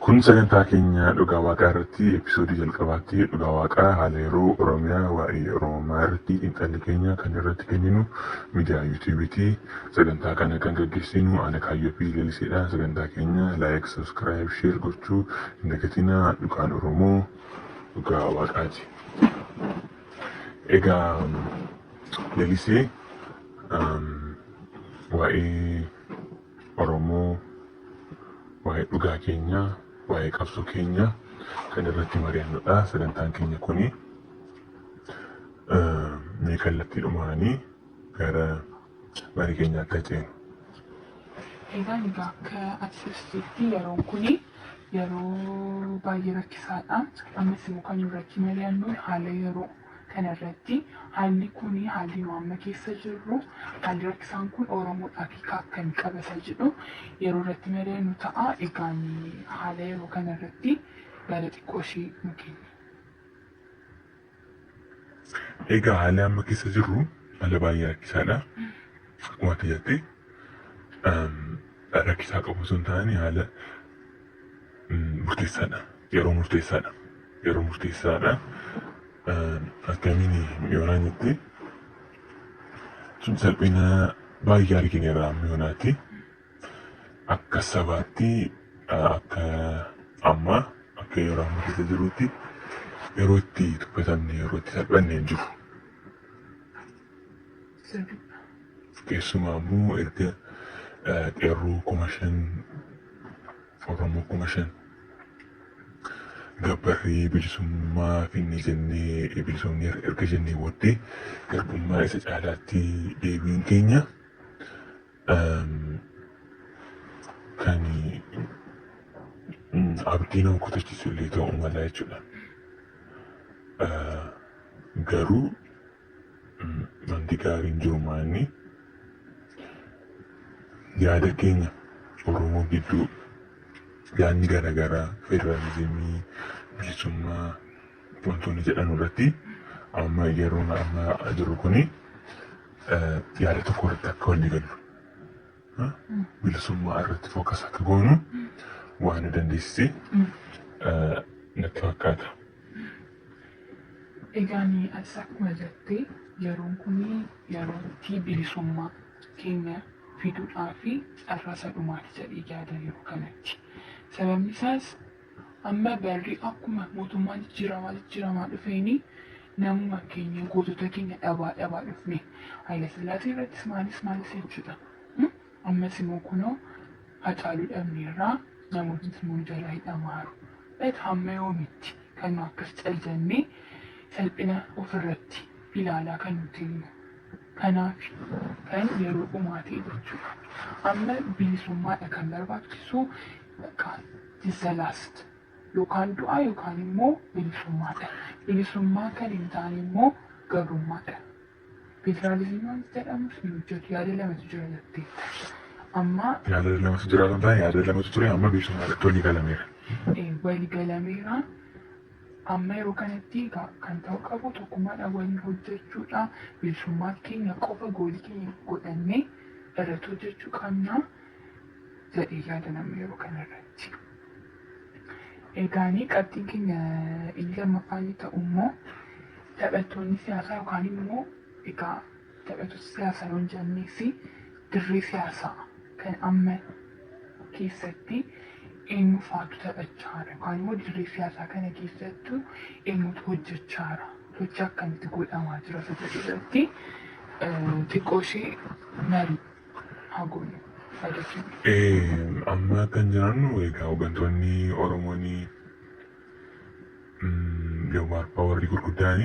Kun sagantaa keenya dhugaa waaqaa irratti episoodii jalqabaatti dhugaa waaqaa haala yeroo Oromiyaa waa'ee Oromummaa irratti xiinxalli keenya kan irratti kenninu miidiyaa yuutuubiiti. Sagantaa kana kan gaggeessinu ana Kaayyoo fi Laliseedha. Sagantaa keenya like, subscribe, share gochuu hin dagatinaa dhugaan Oromoo dhugaa waaqaati. Egaa Lalisee um, waa'ee Oromoo, waa'ee dhugaa keenya, waa'ee qabsoo keenya kan irratti mari'annudha. Sagantaan keenya kuni um, mee kallattii dhumaanii gara marii keenya akka ceenu. Egaan egaa akka ati ibsitetti yeroon kun yeroo baay'ee rakkisaadha. Ammas immoo kan irratti mari'annu haala yeroo kanarratti haalli kun haalli nu amma keessa jirru haalli rakkisaan kun Oromoodhaaf hiika akkamii qabata jedhu yeroo irratti mari'annu ta'a. Egaan haala yeroo kanarratti yaada xiqqoo ishee nu kenni. Egaa haalli amma keessa jirru haala baay'ee rakkisaadha. Akkuma ati jette rakkisaa qabu osoo hin taane haala murteessaadha. Yeroo murteessaadha. Yeroo murteessaadha. Akkamiin yoonaa jette salphina baay'ee argineera amma yoonaatti. akka sabaatti akka amma akka yeroo amma keessa jirutti yeroo itti tuffatamne yeroo itti salphanne hin jiru. Keessumaa immoo erga eh, qeerroo kuma shan Oromoo kuma shan gabbarree bilisummaa finne jennee bilisumni erga jennee booddee garbummaa isa caalaatti deebiin keenya Kan abdii nama kutachiisu illee ta'uu mala jechuudha. Garuu wanti gaariin jiru maanni yaada keenya Oromoo gidduu yaadni garaagaraa federaalizimii, bilisummaa. wantoonni jedhan irratti amma yeroon amma jiru kun yaada tokko irratti akka walii gallu bilisummaa irratti fookas akka goonu waan nu dandeessise natti fakkaata. Egaa ni atis akkuma jettee yeroon kun yeroo itti bilisummaa keenya fiduudhaa fi carraa isa dhumaati jedhee yaada yeroo kanatti. Sababni isaas Amma barri akkuma mootummaan jijjiiramaa jijjiiramaa dhufeeni namuma keenya gootota keenya dhabaa dhabaa dhufne Hayilasillaasee irrattis maalis maalis jechuudha. Ammas immoo kunoo hacaaluu dhabneerraa namootni immoo jalaa hidhamaaru. Dhat hamma yoomitti kan nu akkas cal jennee salphina ofirratti ilaalaa kan nu teenyu. Kanaaf kan yeroo dhumaa ta'e jechuudha. Amma bilisummaadha kan barbaachisu Bakkaan is the last. Yookaan du'a yookaan immoo bilisummaadha. Bilisummaa kan hin taane immoo gabrummaadha. Federaalizimii wanti jedhamus hin hojjetu yaada lamatu jira jetteetta. Amma Yaada lamatu jira kan ta'e yaada lamatu ture amma bilisummaa irratti walii galameera. eh, waligalameera. Amma yeroo kanatti egaa kan ta'uu qabu tokkummaadhaan waliin hojjechuudha. Bilisummaa keenya qofa goolii keenya godhannee irratti hojjechuu qabna. jedhee yaada nama yeroo kanarratti. Egaanii qabxiin keenya inni lammaffaa inni ta'u immoo taphattoonni siyaasaa yookaan immoo egaa taphattoota siyaasaa yoo hin jennees dirree siyaasaa kan amma keessatti eenyu faatu taphachaa jira yookaan immoo dirree siyaasaa kana keessattu eenyutu hojjechaa jira sochii akkamitti godhamaa jira isa jedhu irratti xiqqoo ishee marii haa goonu haa jechuun. Amma kan jiraannu egaa hooggantoonni Oromoon yoomaan abbaa warri gurguddaan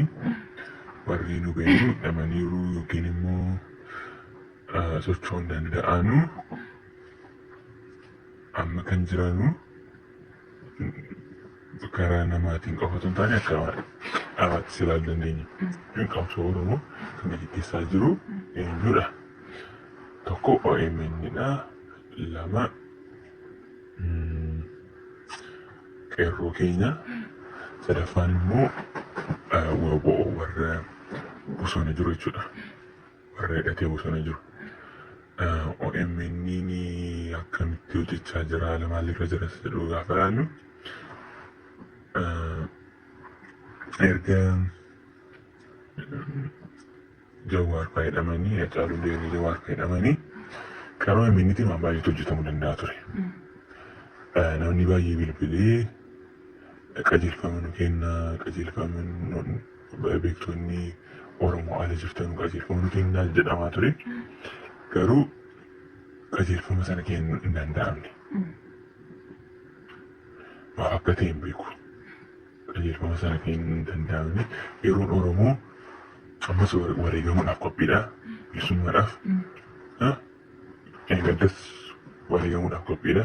warri nu ga'ee miidhamaniiru yookiin immoo socho'uu hin danda'anu amma kan jiraannu karaa namaatiin qofa osoo hin taane akka dhaabaatti si ilaalu dandeenya. Yookiin qabsoo Oromoo kan gaggeessaa jiru eenyudha? Tokko OMN dha. Lama qeerroo keenya. Sadaffaan immoo waboo warra bosona jiru jechuudha. warra hidhatee bosona jiru. OMN akkamitti hojjechaa jira haala maalirra jira isa jedhu gaafa ilaallu erga Jawaar fa'aa hidhamanii Hacaaluu Deerri Jawaar fa'aa hidhamanii kan OMNtiin waan baay'eetu hojjetamuu danda'a ture. Namni baay'ee bilbilee qajeelfama nu kenna qajeelfama beektoonni Oromoo ala jirtan qajeelfama nu kennaa jedhamaa ture. Garuu qajeelfama sana kennuu hin danda'amne. Maaf akka ta'e hin beeku. Qajeelfama sana kennuu hin danda'amne. Yeroon Oromoo ammas ware- wareegamuudhaaf qophiidha. Bilisummaadhaaf. Ah, Gaddas wareegamuudhaaf qophiidha.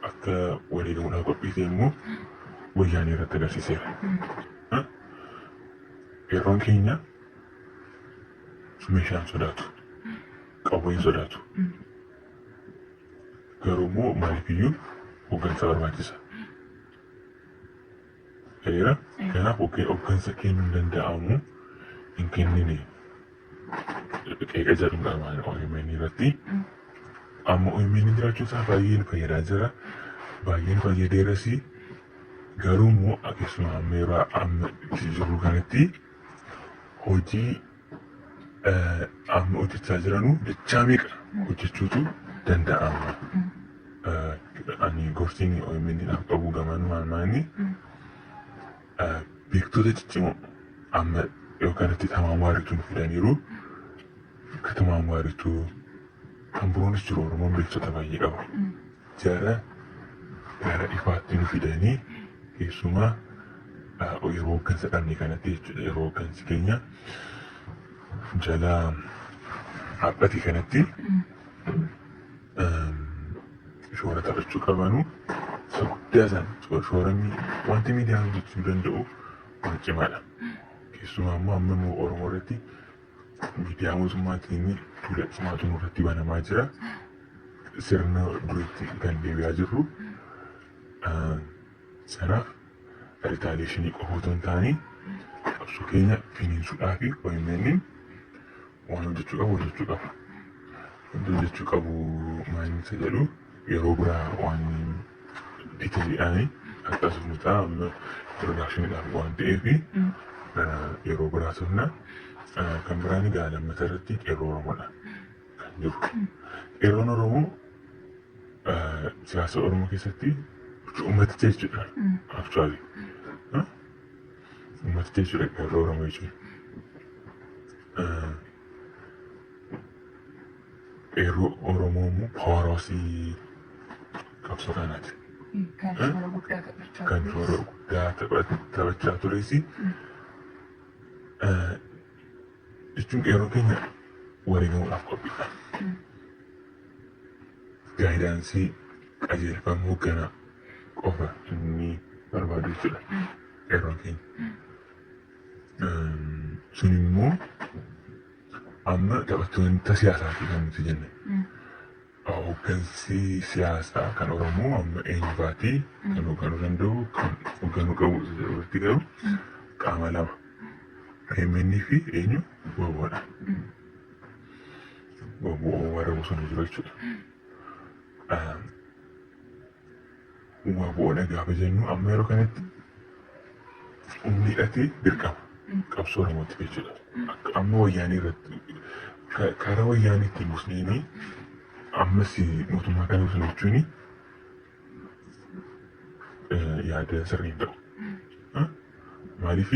akka wareegamuudhaaf qophii ta'e immoo wayyaanee irratti agarsiiseera. Ha? Qeerroon keenya meeshaan sodaatu, qawween sodaatu. Garuu immoo maaliif iyyuu hooggansa barbaachisa. ta'eera. Kanaaf hoggansa kennuu hin danda'amu hin kennine qeeqa jedhu qaba OMN irratti. Amma OMN jiraachuu isaa baay'een fayyadaa jira. Baay'een fayyadeeras garuu immoo akkasuma amma yeroo amma itti jirru kanatti hojii amma hojjechaa jiranu dachaa meeqa hojjechuutu danda'ama. Ani gorsiin OMN dhaaf qabu gamaan maanni beektota ciccimoo amma yoo kanatti tamaan waarituu nu fidaniiru akka tamaan waarituu kan biroonis jiru Oromoon beektota baay'ee qaba. Jara gara ifaatti nu fidanii keessumaa yeroo hooggansa dhabne kanatti jechuudha. Yeroo hooggansi keenya jala dhaabbate kanatti shoora taphachuu qabanu isa guddaa san shoora wanti miidiyaan hojjechuu danda'u waan cimaadha. Keessumaa immoo amma immoo Oromoo irratti Miidiyaa mootummaatiin duula cimaatu nurratti banamaa jira. Sirna duriitti kan deebi'aa jirru sana ritaaliyeeshinii qofa otoo hin taane qabsoo keenya finiinsuudhaa fi OMN waan hojjechuu qabu hojjechuu qaba. Wanti hojjechuu qabu maal isa jedhu yeroo biraa waan itti jedhanii akkas mucaa amma production waan ta'eef yeroo biraa turna kan biraan egaa lammata irratti qeerroo oromoodha kan jiru qeerroon oromoo siyaasa oromoo keessatti ummaticha jechuudha actually ummaticha jechuudha qeerroo oromoo jechuudha. Qeerroo Oromoo immoo poorosii qabsoo kanaati. Kan shoora guddaa taphachaa Kan shoora tures. guddaa tapha- taphachaa tures. Eh, Jechuun qeerroo keenya wareegamuudhaaf qophiidha. Gaayidaansii qajeelfama hoogganaa qofa inni barbaadu jechuudha. Qeerroon keenya. Eh, Sun immoo Amma taphattoota siyaasaati kan nuti jenne. Hooggansi siyaasaa kan Oromoo amma eenyufaati kan hoogganuu danda'u kan hoogganuu qabu isa jedhu irratti garuu qaama lama. AMN fi eenyu waboodha. Waboo warra bosona jiru jechuudha. Waboodha gaafa jennu amma yeroo kanatti humni hidhatee dirqama qabsoo Oromootti jechuudha. Akka amma wayyaanii irratti ka- karaa wayyaanii ittiin busneenii ammas mootummaa kana busna jechuun yaada sirrii hin ta'u. Maaliif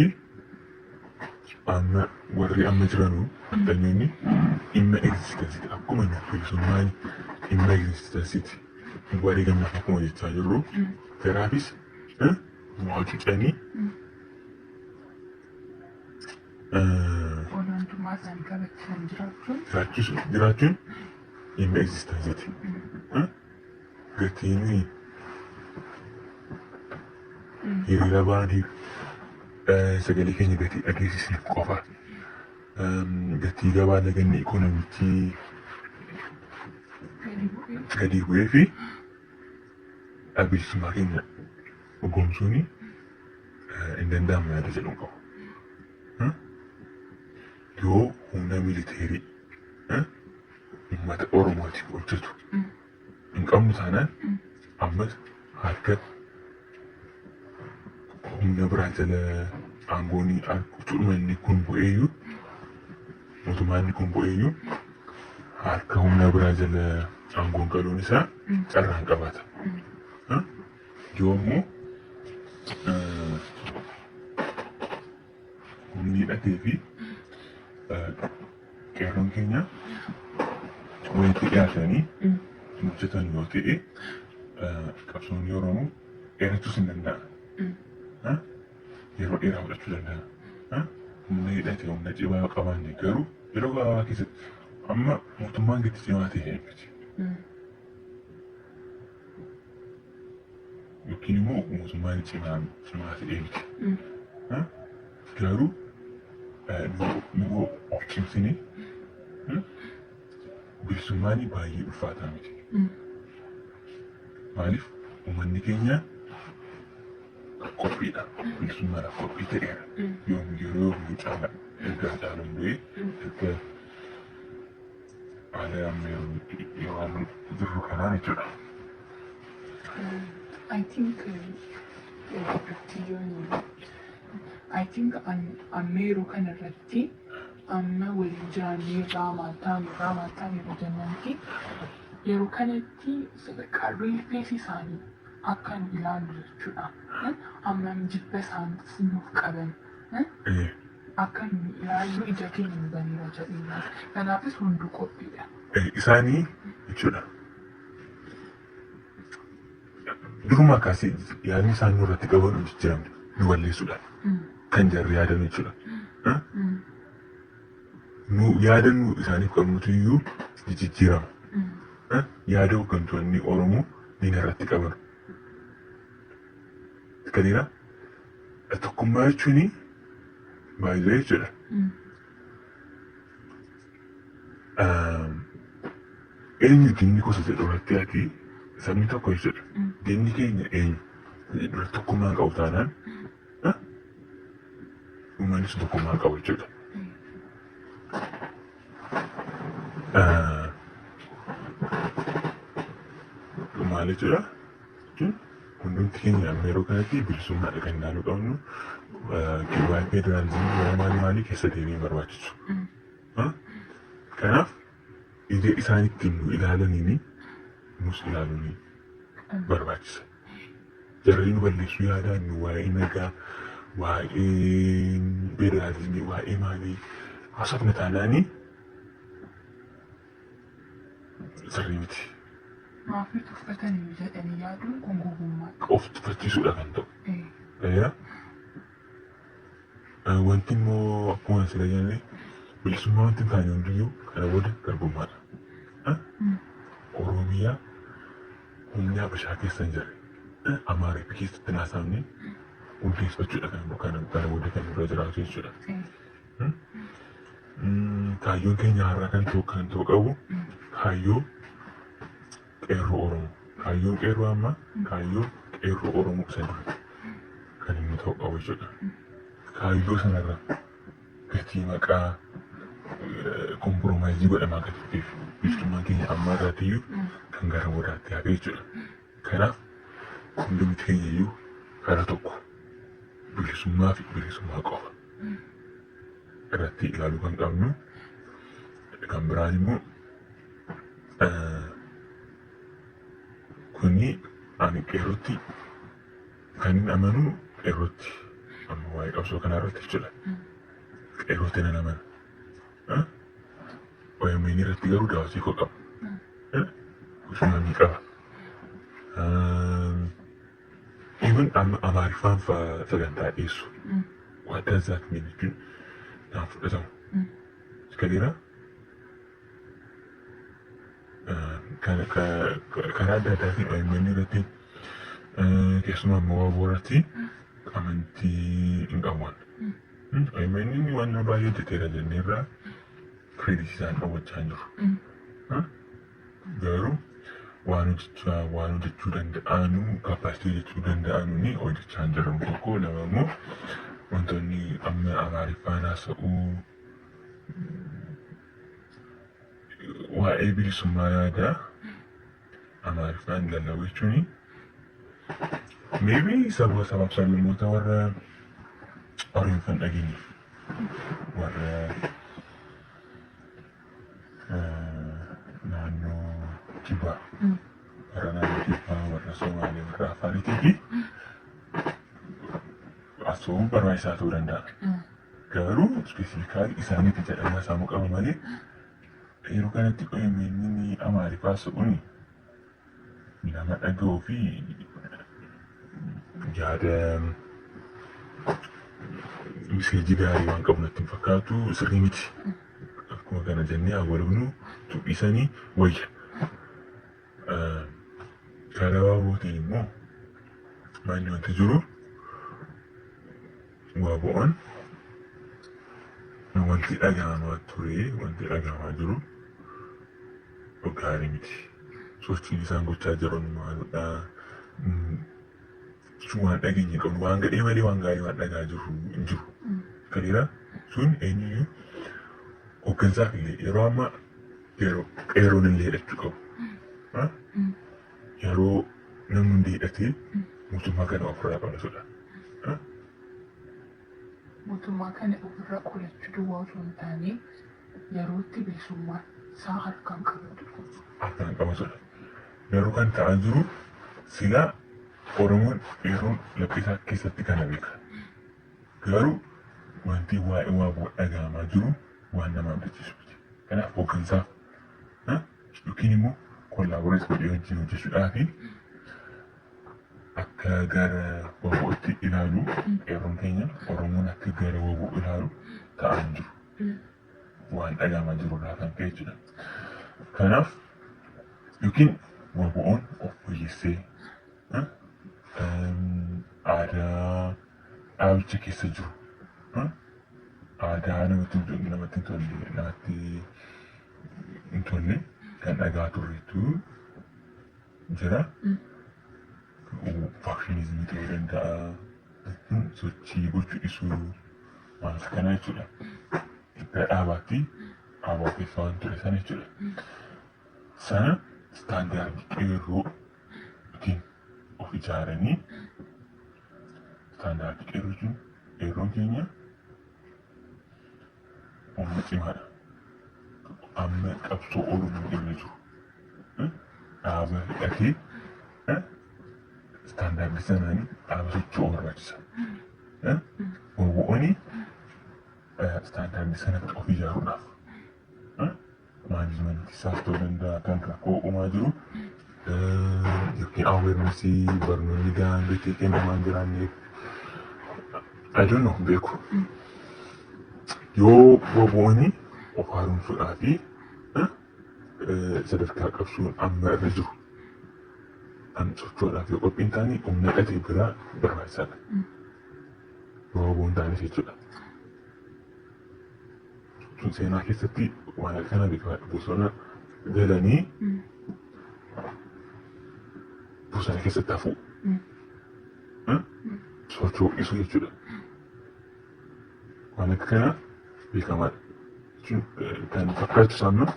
amma warri amma jiranu addunyoonni dhimma egzistensiiti. Akkuma nuuf bilisummaan dhimma egzistensiiti. Warri gammaaf akkuma jechaa jirru jaraafis waa cucanii Olaantummaa isaanii kabachiisan jiraachuun jiraachuun dhimma egzistensiiti. Gatiinii hiriira baanee sagalee keenya gatii dhageessisneef qofa gatii gabaa laganni ikoonomichii gadi bu'ee fi dhaabbilisummaa keenya dhugoomsuun hin danda'amu yaada jedhu qabu. Yoo humna militeerii uummata Oromootiif hojjetu hin qabnu taanaan ammas harka humna biraa jala aangoon cuudhuma inni kun bu'eeyyuu mootummaa inni kun bu'eeyyuu harka humna biraa jala aangoon galuun isaa carraan qabaata. Yoo immoo Humni hidhatee fi qeerroon keenya walitti dhiyaatanii hojjetan yoo ta'e qabsoonni Oromoo dheerachuus hin danda'a. Yeroo dheeraa fudhachuu danda'a. Humna hidhate humna cimaa qabaanne garuu yeroo gabaabaa keessatti amma mootummaan gadi cimaa ta'e miti. yookiin immoo mootummaan cimaan cimaa ta'ee miti. Ha? Garuu eh, nu- nu of cimsine hmm, bilisummaan baay'ee ulfaataa miti. Maaliif uummanni keenya qophiidha. Bilisummaadhaaf qophii ta'eera. Yoom yeroo yoomuu caala erga caaluun du'ee erga Haala amma yeroo itti dhidhiimaarra jirru kanaan jechuudha. I think I think amma yeroo kana irratti amma waliin jiraannee irraa maattaan irraa maattaan yeroo jennutti yeroo kanatti sadarkaa riifees isaanii akka nu ilaalu jechuudha. Amma jibba isaan nuuf qaban. Akka nuyi ilaallu ija keenya nu baneera jedheera. Kanaafis hunduu qophiidha. Isaanii jechuudha. Durumaa kaasee yaadni isaan nurratti qaban hin jijjiiramne nu balleessuudhaaf kan jarri yaadan jechuudha. Nu yaada nu isaaniif qabnutu iyyuu ni jijjiirama. Yaada hooggantoonni Oromoo diina irratti qaban. Kaniira Tokkummaa jechuun maayila jechuudha. Eenyu diinni gosa jedhu irratti ati sabni tokko jechuudha. Diinni keenya eenyu jedhu irratti tokkummaa qabu taanaan uummanni sun tokkummaa qabu jechuudha. Maal jechuudha? jechuun hundumti keenya amma yeroo kanatti bilisummaadha kan ilaaluu qabnu waa'ee federaalizimii waa'ee maalii maalii keessa deemee hin barbaachisu. Kanaaf ija isaan ittiin nu ilaalaniin nus ilaaluun barbaachisa. Jarri nu balleessuu yaadaa nu waa'ee nagaa waa'ee federaalizimii waa'ee maalii haasofna taanaanii sirrii miti. Maafii tuffatanii jedhanii yaaduun kun gowwummaa. Of tuffachiisuudha kan ta'u. Eeyaa. Wanti immoo akkuma asirra jenne bilisummaa wanti hin taane hundiyyuu kana booda garbummaadha. Oromiyaa humni Habashaa keessa hin jirre Amaariif keessatti hin haasa'amne hundeeffachuudha kan kana booda kan irra jiraatu jechuudha. Kaayyoon keenya har'a kan ta'u kan ta'u qabu kaayyoo qeerroo Oromoo. Kaayyoon qeerroo amma kaayyoo qeerroo Oromoo isa dura kan inni ta'u qabu jechuudha. Kaayyoo sanarra gatii maqaa kompiromaayizii godhamaa kan turteef bilisummaan keenya amma irraatiyyuu kan gara boodaatti hafe jechuudha. Kanaaf hundumti keenya iyyuu kara tokko bilisummaa fi bilisummaa qofa irratti ilaaluu kan qabnu. Kan biraan immoo kuni ani qeerrootti kan hin amanu qeerrootti amma waa'ee qabsoo kanaa irratti jechuudha. Qeerrootti nan amana. OMN irratti garuu daawwatii koo qaba. Guddina ni qaba. Even amma Amaariffaan fa'aa sagantaa dhiyeessu. What does that mean jechuun naan fudhatamu. Kaleera karaa adda addaatiin OMN irratti keessumaa immoo waaboo irratti amantii hin qabu. Amen inni waan nu baay'ee hojjeteera jennee irraa kireeditii isaan hawwachaa hin jiru. Garuu waan hojjechaa waan hojjechuu danda'anu kapaasitii hojjechuu danda'anu ni hojjechaa hin jiran tokko lama immoo wantoonni amma amaariffaan haasa'uu waa'ee bilisummaa yaadaa Amaariffaan lallabuu jechuun maybe saba sabaaf sablammoota warra Oromiffaan dhageenyeef warra eh, naannoo kibbaa warra naannoo kibbaa warra Somaalee warra Afaariitii fi asoomuun barbaachisaa ta'uu danda'a. Garuu ispeesifikaalii isaaniitti jedhamaa saamuu qaba malee Yeroo kanatti OMN Amaariffaa so'uun nama dhaga'uu fi yaada miseejii gaarii waan qabu natti hin fakkaatu sirrii miti. Akkuma kana jennee awwalabnu tuqisanii wayya. Karaa baabootiin immoo maalli wanti jiru Waabo'oon wanti dhagahamaa ture wanti dhagahamaa jiru gaarii miti. Sochiin isaan gochaa jiran maalidha? Sun waan dhageenye qabnu waan gadhee malee waan gaarii waan dhagaa jiru hin jiru. Kaleera sun eenyuyyuu hooggansaaf illee yeroo ammaa qeerroon illee hidhachuu qabu. yeroo namni hundi hidhatee mootummaa kana ofirraa qabatudha. Mootummaa kana ofirraa qolachuu duwwaa osoo hin taane yerootti bilisummaa isaa harkaan qabatudha. Harkaan qabatudha. Garuu kan ta'aa jiru silaa Oromoon yeroon laphisaa keessatti kana beeka. Garuu wanti waa'ee waaboo dhaga'amaa jiru waan nama abdachiisu miti. Kanaaf hooggansaaf yookiin immoo kollaaboreet godhee wajjin hojjechuudhaaf akka gara wabootti ilaalu qeerroon keenya Oromoon akka gara waboo ilaalu ta'aa hin jiru. Waan dhagahamaa jiru irraa kan ka'e jechuudha. Kanaaf yookiin waboon of fooyyessee eh, em, aadaa dhaabicha keessa jiru eh, Aadaa namatti hin tolle namatti hin tolle namatti hin tolle kan dhagaa turretu jira. Faakshiniizimii ta'uu danda'a. Sochii gochuu dhisuu waan akka kanaa jechuudha. Gara dhaabaatti dhaabaa keessa waan ture sana jechuudha. Sana istaandaardii qeerroo ittiin of ijaaranii isaan daawwachuu qeerroo jechuun qeerroon keenya humna cimaadha. Amma qabsoo Oromoo irra jiru dhaaba hidhatee istaandaardii sanaan dhaaba socho'uu barbaachisa. Wawwo'ooni istaandaardii sana of ijaaruudhaaf management isaaf ta'uu danda'a kan rakkoo uumaa jiru yookiin awareness barnoonni gahaan beekee kennamaa hin jiraanneef I don't know beeku yoo wabooni of haaromsuudhaa fi sadarkaa qabsuun amma irra jiru kan socho'uudhaaf yoo qophiin taane humna dhatee biraa barbaachisaadha. Yoo waboon taanis jechuudha. seenaa keessatti waan halkana beekaa bosona galanii bosona keessatti hafuu sochoo'isuu jechuudha. Waan akka kana beekamaadha. Kan fakkaachisu ammoo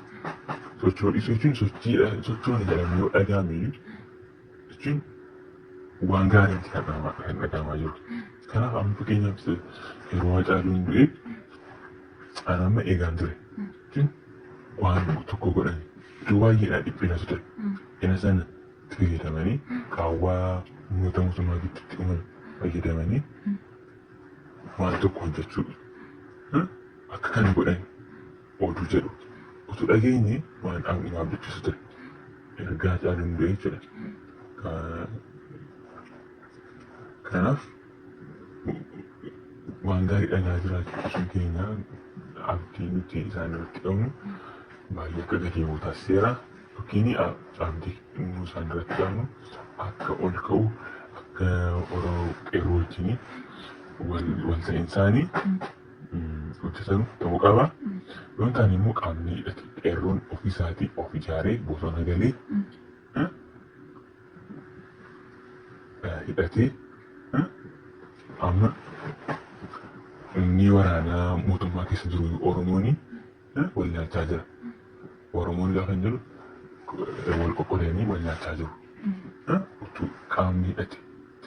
sochoo'isuu jechuun sochiidha sochoona jedhamee yoo dhaga'ame jechuun waan gaarii itti dhaga'ama akka hin dhaga'amaa jiru. Kanaaf amma fakkeenyaaf yeroo Hacaaluun du'e ani amma eegaan ture. Jechuun waan tokko godhan iddoo baay'eedhaa dhiphina ture. Ina sana itti fayyadamanii qaawwaa uummata mootummaa gidduutti uuman fayyadamanii waan tokko hojjechuu akka kana godhan oduu jedhu utuu dhageenye waan dhaabni nu abdachiisu ture. Ergaa caaluun du'e jechuudha. Kanaaf waan gaarii dhagaa jiraachuun keenya abdii nuti isaan irratti qabnu baay'ee akka gadi bu'u taasiseera. Yookiin abdii nu isaan irratti qabnu akka ol ka'u akka Oromoo qeerroo wajjin wal ta'iinsaanii hojjetanu ta'uu qaba. Yoo hin taane immoo qaamni hidhate qeerroon ofiisaatii of ijaaree bosona galee eh, eh, hidhatee eh, amma inni waraanaa mootummaa keessa jiru Oromoon wal nyaachaa jira. Oromoon lafa hin jiru wal qoqqoodanii wal nyaachaa jiru. Utuu qaamni hidhate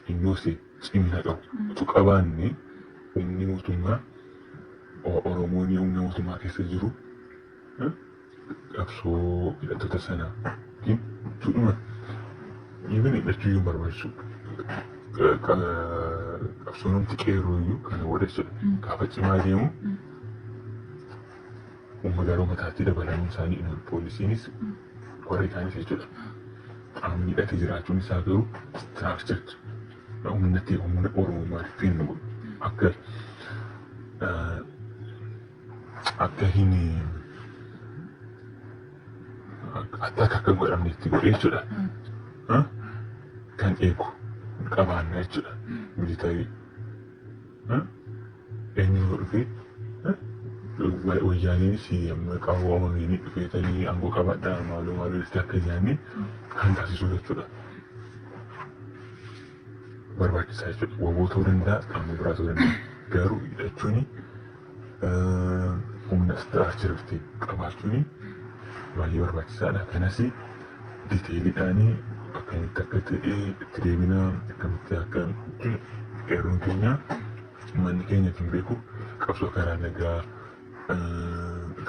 xiyyoo see cimina qabu utuu qabaanne humni mootummaa Oromoon humna mootummaa keessa jiru qabsoo hidhattoota sana yookiin tuudhuma even hidhachuu iyyuu barbaachisu qabsoonumti qeerroo iyyuu kana godha jechuudha. Gaafa cimaa deemu Uummata Oromootaatti dabalamuu isaanii himan poolisiinis warri kaanis jechuudha. Qaamni hidhate jiraachuun isaa garuu istiraakchirdi humna ta'e humna Oromummaa rifiin nu godhu akka akka hin akka akka hin godhamne itti godhe jechuudha. Kan eegu qabaanna jechuudha. Militarii Eenyutu dhufee? Wayyaaneenis amma qaawwa wamanii dhufeetanii aangoo qabadhaa maaloo maaloo itti akka ijaanii kan taasisuu jechuudha. Barbaachisaa jechuudha. Waboo ta'uu danda'a qaama biraa ta'uu danda'a. Garuu hidhachuun humna istiraakchariitti qabaachuun baay'ee barbaachisaadha. Kanas diteeliidhaan akkamitti akka ta'e itti deebinaa akkamitti akka qeerroon keenya Ummanni keenya kan beeku qabsoo karaa nagaa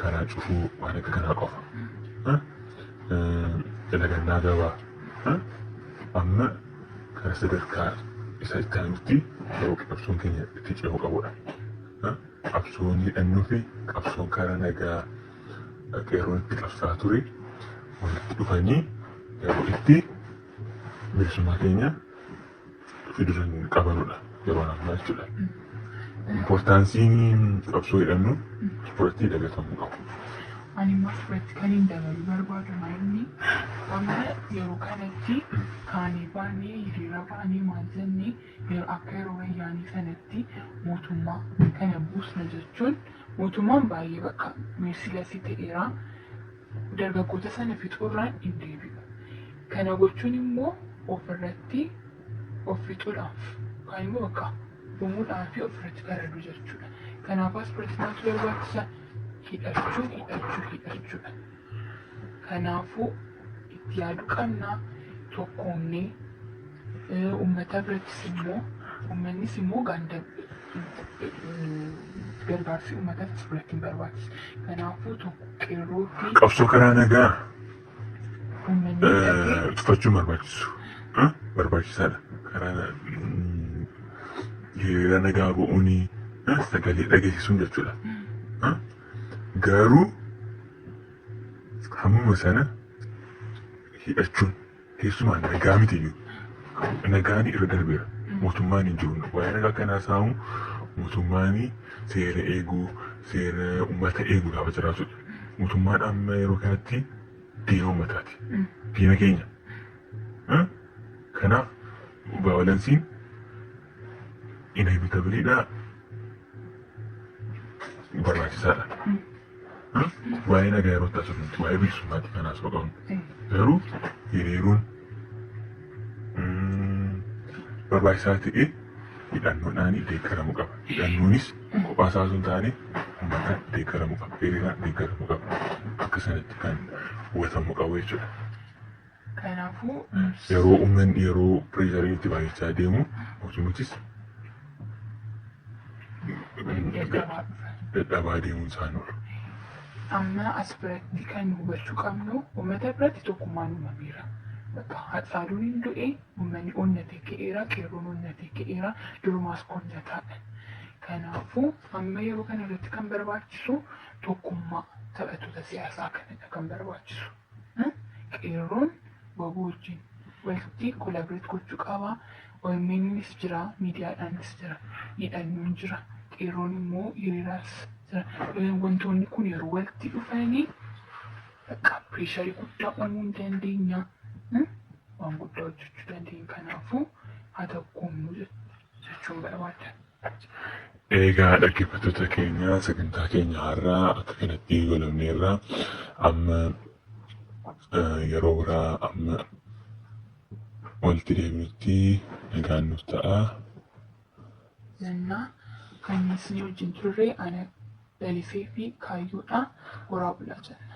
karaa cufuu waan akka kanaa qofa. Lagannaa gabaa amma karaa sadarkaa isa itti aanutti yeroo qabsoon keenya itti ce'uu qabudha. Qabsoon hidhannoo fi qabsoon karaa nagaa qeerroon itti qabsaa ture walitti dhufanii yeroo itti bilisummaa keenya fiduran qabanudha yeroo ammaa jechuudha. Impoortaansiin qabsoo hidhannoo asirratti dagatamuu qabu. Ani immoo asirratti kan hin dabaluu barbaadu maayilni amma yeroo kanatti kaanee baanee hiriira baanee maal jennee yeroo akka yeroo wayyaanii sanatti mootummaa kana buusna jechuun mootummaan baay'ee bakka meersilasii ta'eera. dargaggoota sana fixuurraan hin deebi'u. Kana gochuun immoo ofirratti of fixuudhaaf yookaan immoo bakka dhumuudhaa fi ofirratti faraduu jechuudha. Kanaaf asirratti maaltu barbaachisa? Hidhachuu, hidhachuu, hidhachuudha. Kanaafuu itti yaaduu qabna tokkoomnee uummata birattis immoo uummannis immoo gaandab gargaarsi uummataa sirratti hin barbaachisu. Kanaafuu tokko qeerrootti Qabsoo karaa nagaa uummanni hidhatee eh, tufachuun barbaachisu. Eh, Barbaachisaadha. Karaa na- mm, hiriira nagaa ba'uun eh, sagalee dhageessisuun jechuudha. Eh, Garuu hammuma sana hidhachuun Keessumaa nagaa miti iyyuu. Nagaan irra darbeera. Mootummaan hin jiru. Waa'ee nagaa kan haasa'amu mootummaan seera eeguu, seera uummata eeguu gaafa jiraatudha. Mootummaan amma yeroo kanatti diina uummataati. Diina keenya. Eh? Kanaaf vaayolansiin inevitabilii dha barbaachisaa dha. Waa'ee nagaa yeroo taasisu miti waa'ee bilisummaatti kan haasoo qabnu garuu hiriiruun barbaachisaa ta'e hidhannoodhaan deeggaramuu qaba. Hidhannoonis kophaa isaa osoo hin taane uummata deeggaramuu qaba. Hiriiraan deeggaramuu qaba. Akka sanatti kan hubatamuu qabu jechuudha. Kanaafuu yeroo ummanni yeroo pireesharii itti baay'achaa deemu mootummichis dadhabaa deemuun isaan oolu. Amma as biratti kan hubachuu qabnu uummata biratti tokkummaan uumameera. Bakka Haacaaluun hin du'e uummanni onnatee ka'eera, qeerroon onnatee ka'eera, durumaas onnataadha. Kanaafuu amma yeroo kana irratti kan barbaachisu tokkummaa taphattoota siyaasaa kanadha kan barbaachisu. Qeerroon wbo wajjin walitti collaborate gochuu qaba. OMN'nis jira, miidiyaadhaanis jira, hidhannoon jira, qeerroon immoo hiriiraas jira. Wantoonni kun yeroo walitti dhufanii bakka pireesharii guddaa uumuu ni dandeenya. Waan guddaa hojjechuu dandeenya. Kanaafuu haa tokkoomnu jechuun barbaada. Eegaa dhaggeeffattoota keenya sagantaa keenya har'aa akka kanatti goolabneerra amma yeroo biraa amma walitti deebinutti nagaan nuuf ta'a. Zannaa kan isin wajjin turre ana Dalifee fi Kaayyoodha. Horaa bulaa jenna.